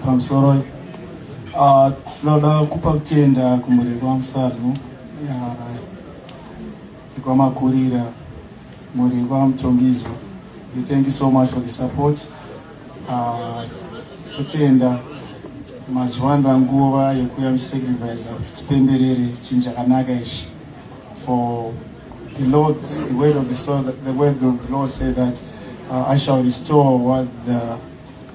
pamusoro ah, tinoda kupa kutenda kumureko wamusanhu ikwamakurira mureko wamutongizo we thank you so much for the support ah, totenda mazuva andanguva yekuya musacrifice kuti tipemberere chinhu chakanaka ichi For the Lord, the word of the soul, the word of the Lord said that uh, I shall restore what the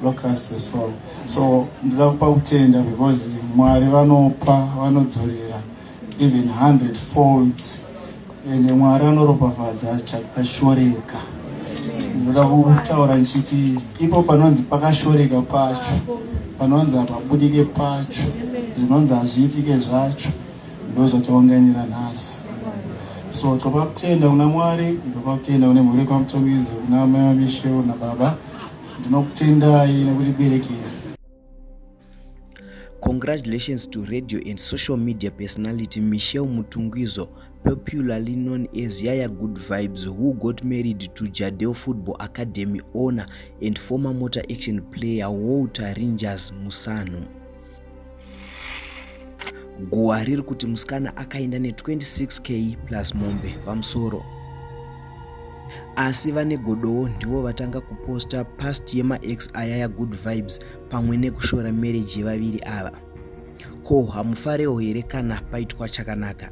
locust has stolen. So ndinoda kupa kutenda because Mwari vanopa vanodzorera even 100 folds and Mwari anoropafadza chakashoreka. Ndinoda kutaura ndichiti ipo panonzi pakashoreka pacho panonzi hapabudike pacho zvinonzi hazviitike zvacho ndozvataunganira nhasi so toba kutenda kuna mwari ndoba kutenda kune mhuri kwamutongizi kuna mai vamisheu nababa ndinokutendai nekuti berekera Congratulations to radio and social media personality Michelle Mutungwizo, popularly known as Yaya Good Vibes, who got married to Jadel Football Academy owner and former Motor Action player Walter Rangers Musanu. guwa riri kuti musikana akaenda ne26k plus mombe pamusoro asi vane godowo ndivo vatanga kuposta past yemax aya yagood vibes pamwe nekushora mereji yevaviri ava ko hamufarewo here kana paitwa chakanaka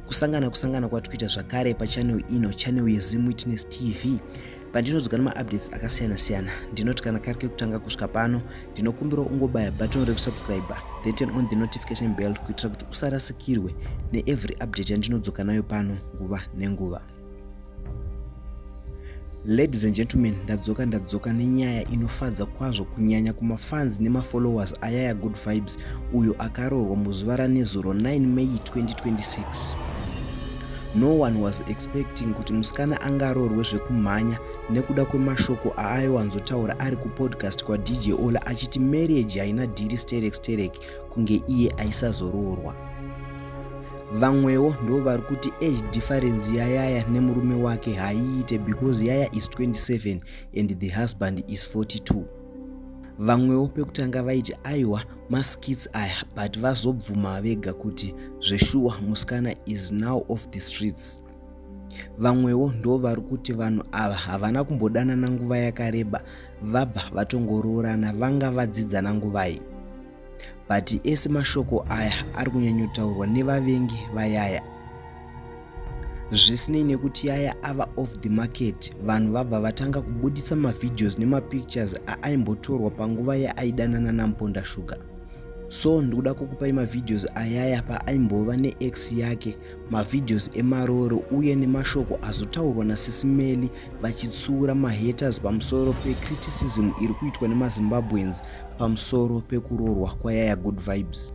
kusangana kusangana kwatikuita zvakare pachanel ino chanel yezim witness tv pandinozoga nemaupdates akasiyana siyana ndinoti kana kari kekutanga kusvika pano ndinokumbira ungobaya button rekusubscriber then turn on the notification bell kuitira kuti usarasikirwe neevery update yandinodzoka nayo pano nguva nenguva ladies and gentlemen ndadzoka ndadzoka nenyaya inofadza kwazvo kunyanya kumafans nemafollowers ayaya good vibes uyo akaroorwa muzuva ranezuro 9 may 2026 No one was expecting kuti musikana angaroorwe zvekumhanya nekuda kwemashoko aaiwanzotaura ari kupodcast kwadj ola achiti marriage haina dhiri sterek sterek kunge iye aisazoroorwa vamwewo ndo vari kuti age difference yayaya nemurume wake haiite because yaya is 27 and the husband is 42 vamwewo pekutanga vaiti aiwa maskits aya but vazobvuma vega kuti zveshuwa musikana is now off the streets vamwewo ndo vari kuti vanhu ava havana kumbodanana nguva yakareba vabva vatongoroorana vanga vadzidzana nguvai but ese mashoko aya ari kunyanyotaurwa nevavengi vayaya zvisinei nekuti yaya ava off the market vanhu vabva vatanga kubuditsa mavideos nemapictures aaimbotorwa panguva yaaidanana namponda shuga so ndikuda kukupai mavideos ayaya paaimbova neex yake mavideos emaroro uye nemashoko azotaurwa nasisimeli vachitsuura mahaters pamusoro pecriticism iri kuitwa nemazimbabweans pamusoro pekurorwa kwayaya good vibes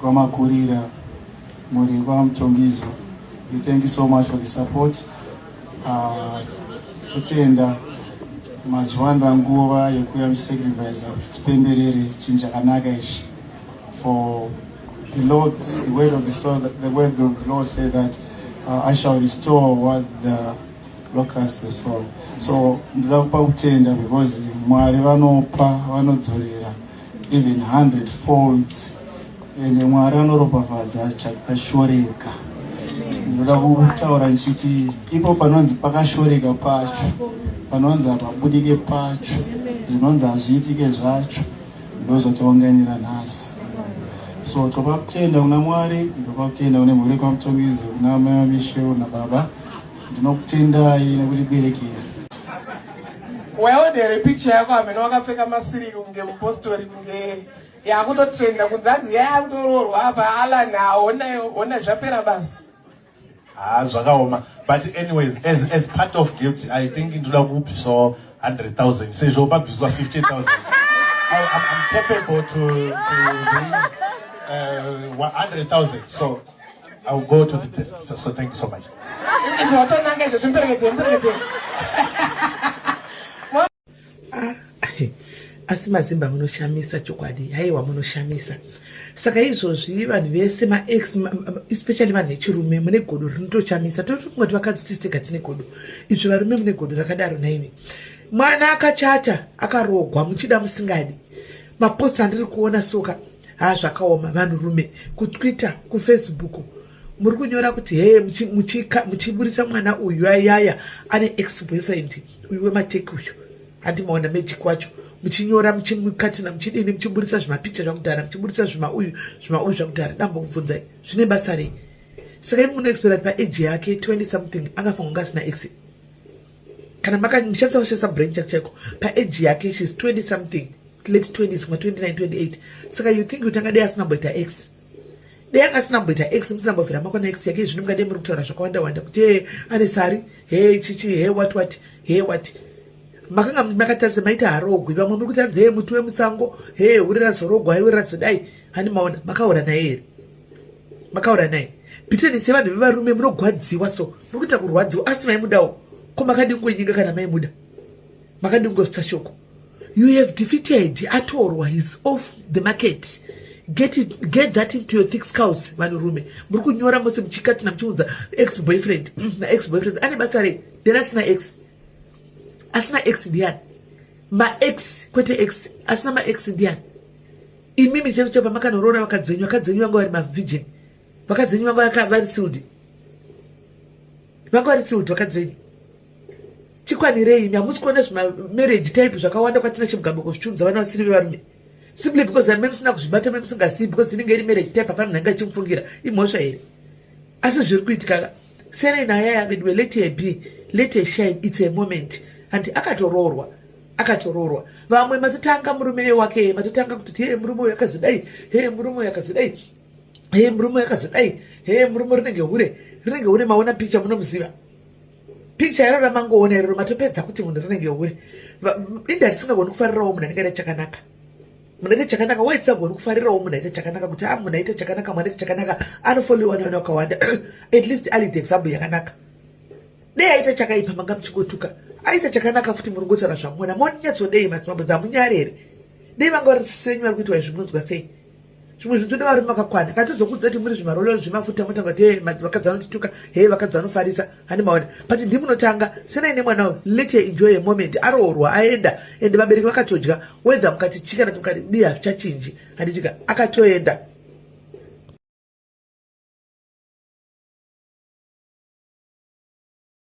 Kwamakurira muri kwaMutongidzwa. We thank you so much for the support. Uh, totenda mazuva ano nguva yekuuya musacrifice kuti tipemberere chinhu chakanaka ichi for the Lord, the word of the soul, the word of the Lord said that uh, I shall restore what the locust has stolen. So ndinoda kupa kutenda because Mwari vanopa vanodzorera even 100 folds and mwari anoropafadza chakashoreka ndinoda kutaura ndichiti ipo panonzi pakashoreka pacho panonzi hapabudike pacho zvinonzi hazviitike zvacho ndozvataunganira nhasi so topa kutenda kuna mwari ndopa kutenda kune mhuri kwamutongizi kuna mai vamisheu nababa ndinokutendai nekuti berekera Waona here picture yako amene wakapfeka masiriki kunge mupostori kunge yakutotrenda kunzi hanzi yayakutoroorwa apa Alan haona hona zvapera basa. Ah zvakaoma but anyways as as part of gift I think ndoda kubvisawo 100,000 sezvo pabviswa 50,000. I, I'm, I'm capable to, to bring uh, 100,000 so I will go to the desk. So, so thank you so much. asi mazimba munoshamisa chokwadi haiwa munoshamisa saka izvozvi vanhu vese maex especially vanhu vechirume mune godo rinotochamisa totoungati vakadzi tisitega tine godo izvi varume mune godo rakadaro naimi mwana akachata akarogwa muchida musingadi mapost andiri kuona soka ha zvakaoma vanhurume kutwitter kufacebook muri kunyora kuti hee muchiburitsa mwana uyu ayaya ane ex boyfriend uyu wemateki uyu handi maona magic wacho muchinyora muchimukatuna muchidini muchiburitsa zvimapicha zvakudhara muchiburitsa zvima uyu zvima uyu zvakudhara dambo kubvunzai zvine basa rei saka imi munoexpera paage yake 20 something akafangonga asina exe kana maka ndichatsa kushandisa brain chak chako paage yake shes 20 something late 20 sma 29 28 saka you think kutanga dei asina mboita x dei anga asina mboita x musina mbovhira mako na x yake zvino mungade muri kutaura zvakawanda wanda kuti he ane sari he chichi he what what he what makanga makatarisa maita harogwi vamwe muri kutanzi he muti wemusango he uri razorogwa he uri razodai hani maona makaora naye here makaura naye pitani sevanhu vevarume munogwadziwa so muri kuita kurwadziwa asi maimudawo ko makadii kungonyenga kana maimuda makadii kungozvitsa shoko you have defeated atorwa his off the market get, it, get that into your thick scouse vanhurume muri kunyora mose muchikati namuchiunza ex boyfriend mm, naex boyfriend ane basa rei then asina ex asina ex ndiani maex kwete ex asina maex ndiani imimi chero chapa makanoroora vakadzi venyu vakadzi venyu vanga vari mavigin vakadzi venyu vanga vari sildi vanga vari sildi vakadzi venyu tikwanirei imi hamusi kuona zvimamarriage type zvakawanda kwatina chimugambo kuzvitunza vana vasiri vevarume simply because amene musina kuzvibata mene musingasiyi because inenge iri marriage type hapana nhanga ichimufungira imhosva here asi zviri kuitikaka sere naya yaveduwe let her be let her shine its a moment hanti akatoroorwa akatoroorwa vamwe matotanga murume wake matotanga kutoti hee murume uyo akazodai hee murume uyo akazodai hee murume uyo akazodai hee murume rinenge hure rinenge hure maona picha munomuziva picha iro ramangoona iroro matopedza kuti munhu rinenge hure inda risingagoni kufarirawo munhu anenge ane chakanaka munhu aita chakanaka why tsago uri kufarirawo munhu aita chakanaka kuti a ah, munhu aita chakanaka mwana aita chakanaka anofollowa nevanhu vakawanda at least ali the example yakanaka dei aita chakaipa manga muchingotuka aita chakanaka futi muri ngotaura zvamona monyatsodei madzimambo dzamunyare here dei vanga vari sisi venyu vari kuitwa izvi munonzwa sei zvimwe zvinhu toda varume vakakwana kana tozokudza kuti muri zvimarolero zvemafuta motanga kuti he madzivakadzi anotituka he vakadzi vanofarisa hani maona but ndimunotanga senai nemwana uyu let her enjoy a moment aroorwa aenda ende vabereki vakatodya wedha mukati chika nati mukati di hazvichachinji handitika akatoenda